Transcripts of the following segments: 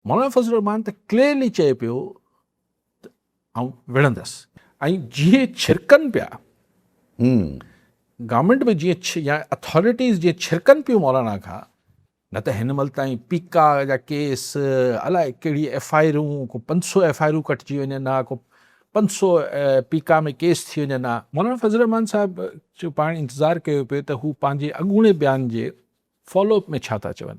مولانا فضل الرحمان ته ڪليئرلي چئي پيو ته آئون وڙهندس. ۽ جيئن ڇرڪن پيا گورنمينٽ به جيئن يا اٿارٽيز جيئن ڇرڪن پيون مولانا کان نه ته هن مهل تائين پيڪا جا ڪيس الائي ڪهڙي ايف آئي آرون ڪو پنج سو ايف آئي آرون ڪٽجي وڃن ها ڪو پنج سو پيڪا ۾ ڪيس ٿي وڃن ها مولانا فضل الرحمان صاحب جو پاڻ انتظار ڪيو پيو ته هو پنهنجي اڳوڻي بيان جي فالو اپ ۾ ڇا ٿا چون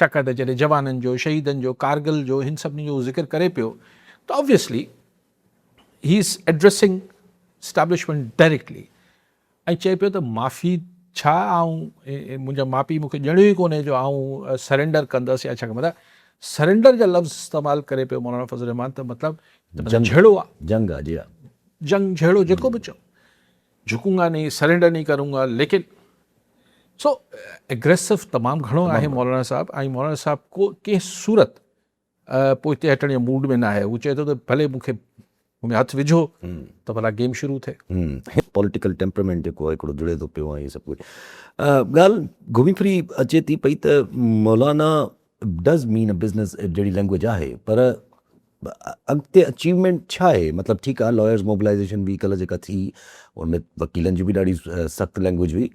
ڇاڪاڻ ته جڏهن جوانن جو، شهيدن جو، ڪارگل جو هن سڀني جو هو ذڪر ڪري پيو ته Obviously He Is Addressing Establishment Directly ۽ چئي پيو ته معافي ڇا آئون منهنجا ماء پيء مون کي ڄڻيو ئي ڪونهي جو آئون Surrender ڪندس يا ڇا ڪندس Surrender جا لفظ استعمال ڪري پيو مولانا فضل الرحمان ته مطلب جهڙو آ جنگ جهڙو جيڪو به چئو. جھڪون گا نھين سرينڊر نھين ڪرون گا ليڪن سو اگريسو تمام گھڻو آھي مولانا صاحب ۽ مولانا صاحب ڪو ڪنھن صورت پوئتي ھٽڻ جي موڊ ۾ نه آھي ھو چئي ٿو ته ڀلي مون کي ۾ هٿ وجھو ته ڀلا گيم شروع ٿئي پوليٽيڪل ٽيمپرامينٽ جيڪو آهي هڪڙو جڙي ٿو پيو ۽ سڀ ڪجھ ڳالھ گھمي ڦري اچي ٿي پئي ته Maulana does mean a business جهڙي لينگويج آهي پر اڳتي اچيومينٽ ڇا آهي مطلب ٺيڪ آهي لائرز موبلائيزيشن به ڪلهه جيڪا ٿي ان ۾ وڪيلن جي به ڏاڍي سخت لينگويج هئي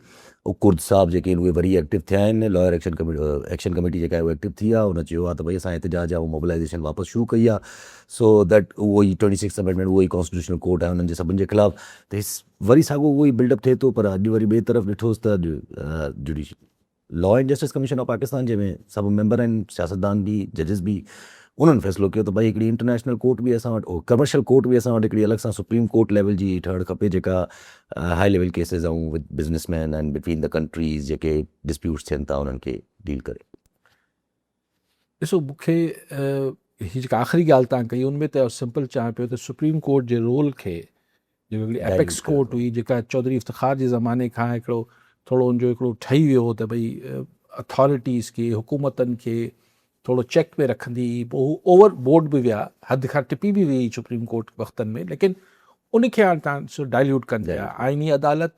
او ڪرد صاحب جيڪي آهن اهي وري ايڪٽو ٿيا آهن lawyer action committee action committee جيڪا آهي ايڪٽو ٿي آهي ان چيو آهي ته ڀئي اسان احتجاج يا موبلائيزيشن واپس شروع ڪئي آهي سو ڏيٽ اهو ئي ٽوئنٽي سڪس امينڊمينٽ اهو ئي ڪانسٽيٽيوشنل ڪورٽ آهي انهن جي سڀني جي خلاف ته وري ساڳو اهو ئي بلڊ اپ ٿئي ٿو پر اڄ وري ٻئي طرف ڏٺوس ته اڄ judicial law and justice commission of Pakistan جنهن ۾ سڀ ميمبر آهن، سياستدان به، ججز به، انهن فيصلو ڪيو ته ڀائي هڪڙي انٽرنيشنل ڪورٽ به اسان وٽ، ڪمرشل ڪورٽ به اسان وٽ هڪڙي الڳ سان سپريم ڪورٽ ليول جي ٺهڻ کپي جيڪا high level cases on with business man and between the countries جيڪي ڊسپيوٽس ٿين ٿا انهن کي ڊيل ڪري. ڏسو مون کي هي جيڪا آخري ڳالهه تان ڪئي ان ۾ ته سمپل چاهيان پيو ته سپريم ڪورٽ جي رول کي جيڪا هڪڙي اپيڪس ڪورٽ هئي جيڪا چوڌري افتخار جي زماني کان هڪڙو ٿورو ان جو هڪڙو ٺهي ويو هو ته ڀئي اٿارٽيز کي حڪومتن کي ٿورو چيڪ ۾ رکندي هئي پوء هو اوور بورڊ به ويا حد کان ٽپي به ويئي سپريم ڪورٽ وقتن ۾ ليڪن ان کي هاڻ تان ڊائليوٽ ڪن پيا آئيني عدالت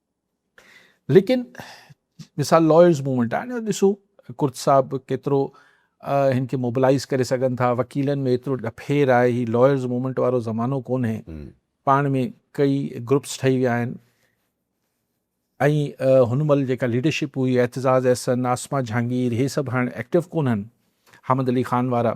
ليڪن مثال لائرز موومينٽ آهي نه ڏسو ڪرت صاحب ڪيترو هن کي موبلائز ڪري سگهن ٿا وڪيلن ۾ ايترو ڏڦير آهي هي لائرز موومينٽ وارو زمانو ڪونهي پاڻ ۾ ڪئي گروپس ٺهي ويا آهن ۽ هن مهل جيڪا ليڊرشپ هئي اعتزاز احسن آسما جهانگير هي سڀ هاڻ ايڪٽو ڪونهن حامد علي خان وارا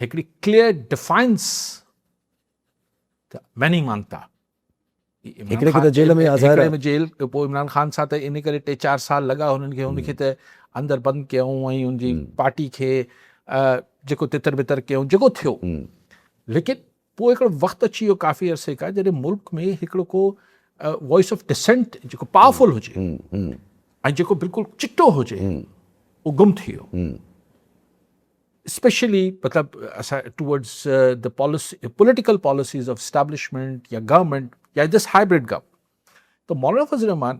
هڪڙي ڪليئر ڊفائنس ته ميني مانتا هڪڙي کي ته جيل ۾ آزار ۾ جيل پوء عمران خان سان ته ان ڪري ٽي چار سال لڳا هنن کي هن کي ته اندر بند ڪيائون ۽ ان جي پارٽي کي جيڪو تتر بتر ڪيائون جيڪو ٿيو ليڪن پوء هڪڙو وقت اچي ويو ڪافي عرصي کان جڏهن ملڪ ۾ هڪڙو ڪو وائس آف ڊسنٽ جيڪو پاورفل هجي ۽ جيڪو بلڪل چٽو هجي اهو گم ٿي ويو اسپيشلي مطلب اسان towards the policy political policies of establishment یا گورنمنٹ یا دس هائبرڊ گورنمنٹ تو مولانا فضل الرحمان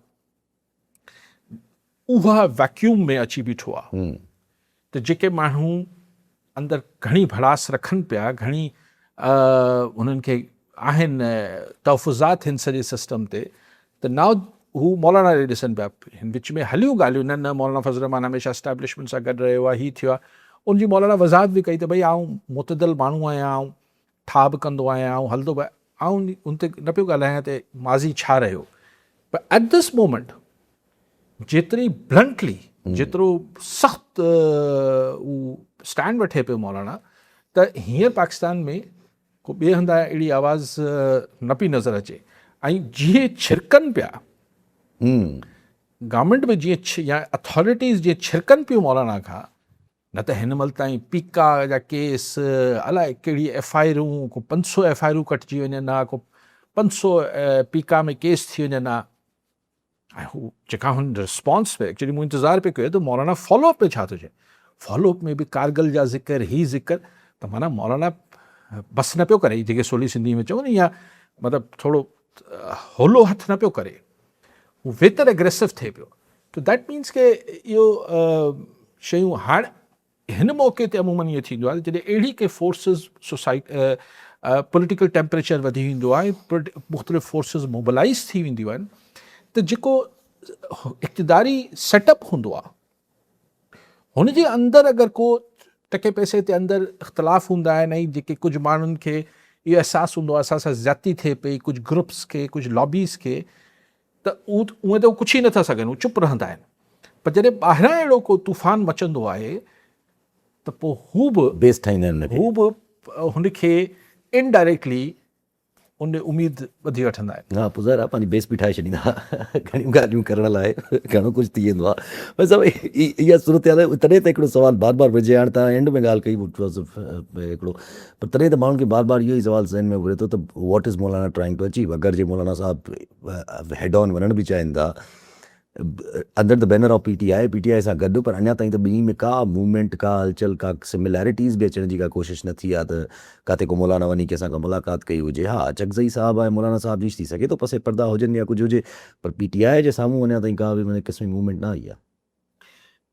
اها ويڪيوم ۾ اچي بيٺو آ ته جيڪي ماڻهو اندر گهڻي ڀڙاس رکن پيا گهڻي انهن کي آهن تحفظات هن سڄي سسٽم تي ته ناء هو مولانا ڏي ڏسن پيا هن وچ ۾ هليون ڳالهيون نه نه مولانا فضل الرحمان هميشه اسٽيبلشمنٽ سان گڏ رهيو آ هي ٿيو آ ان جي مولانا وضاحت به ڪئي ته ڀئي آئون معتدل ماڻهو آهيان آئون ٺاهه به ڪندو آهيان آئون هلندو به آئون ان تي نه پيو ڳالهايان ته ماضي ڇا رهيو پر ايٽ دس مومنٽ جيتري بلنٽلي جيترو سخت اسٽينڊ وٺي پيو مولانا ته هينئر پاڪستان ۾ کو ٻئي هندا اهڙي آواز نه پي نظر اچي ۽ جيئن ڇرڪن پيا گورنمنٽ به جيئن يا اٿارٽيز جيئن ڇرڪن پيو مولانا کان نه ته هن مهل تائين پيڪا جا ڪيس الاء ڪهڙي ايف آء آرون ڪو پنج سو ايف آء آرون ڪٽجي وڃن ها ڪو پنج سو پيڪا ۾ ڪيس ٿي وڃن ها ۽ هو جيڪا هن رسپانس پي ايڪچولي مون انتظار پي ڪيو ته مولانا فالو اپ ۾ ڇا ٿو چئي فالو اپ ۾ به ڪارگل جا ذڪر هي ذڪر ته مانا مولانا بس نه پيو ڪري جيڪي سولي سنڌي ۾ چون يا مطلب ٿورو هولو هٿ نه پيو ڪري هو ويتر اگريسو ٿئي پيو تو ديٽ مينس ڪي اهو شيون هاڻ هن موقعي تي عمومن ائين ٿيندو آهي جڏهن اهڙي ڪي فورسز سوسائٽ پوليٽيڪل ٽيمپريچر وڌي ويندو آهي مختلف فورسز موبلائز ٿي وينديون آهن ته جيڪو اقتداري سيٽ اپ هوندو آهي هن جي اندر اگر ڪو ٽڪي پئسي تي اندر اختلاف هوندا آهن ۽ جيڪي ڪجهه ماڻهن کي اهو احساس هوندو آهي اسان سان زيادتي ٿئي پئي ڪجهه گروپس کي ڪجهه لابيز کي ته اهو ته ڪجهه ئي نٿا سگهن چپ رهندا آهن پر جڏهن ٻاهران اهڙو ڪو طوفان مچندو آهي ته پوء هو به بيس ٺاهيندا آهن هو به هن کي انڊائريڪٽلي ان ڏي اميد ٻڌي وٺندا آهن. ها پوء ظاهر آهي پنهنجي بيس به ٺاهي ڇڏيندا ها گهڻيون ڳالهيون ڪرڻ لاء گهڻو ڪجهه ٿي ويندو آهي ڀائي صاحب اهي اها صورتحال آهي تڏهن ته هڪڙو سوال بار بار وجهي هاڻي تان اينڊ ۾ ڳالهه ڪئي هڪڙو پر تڏهن ته ماڻهن کي بار بار اهو ئي سوال ذهن ۾ گهري ٿو ته what is Maulana trying to achieve اگر جي مولانا صاحب هيڊ آن وڃڻ به چاهين ٿا under the banner of P T I, P T I سان گڏ پر اڃا تائين ته ٻنهي ۾ ڪا موومينٽ، ڪا هلچل، ڪا سمليريٽيز به اچڻ جي ڪا ڪوشش نه ٿي آهي ته ڪاتي ڪو مولانا وڃي ڪنهن سان ڪا ملاقات ڪئي هجي. ها اچڪزئي صاحب ۽ مولانا صاحب جي ٿي سگهي ٿو پس پردا هجن يا ڪجهه هجي پر پي ٽي آء جي سامهون اڃا تائين ڪا به ان قسم جي موومينٽ نه آئي آهي.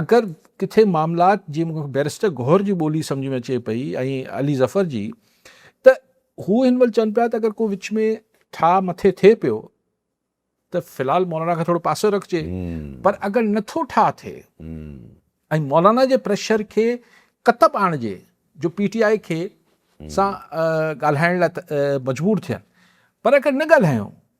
اگر ڪٿي معاملات جيئن مون کي بيرسٽر گوهر جي ٻولي سمجھ ۾ اچي پئي ۽ علي ظفر جي ته هو هن مهل چون پيا ته اگر ڪو وچ ۾ ٺاهه مٿي ٿئي پيو ته في الحال مولانا کي ٿورو پاسو رکجي پر اگر نٿو ٺاهه ٿئي ۽ مولانا جي پريشر کي ڪتب آڻجي جو پي ٽي آء کي سان ڳالهائڻ لاء مجبور ٿين پر اگر نه ڳالهايون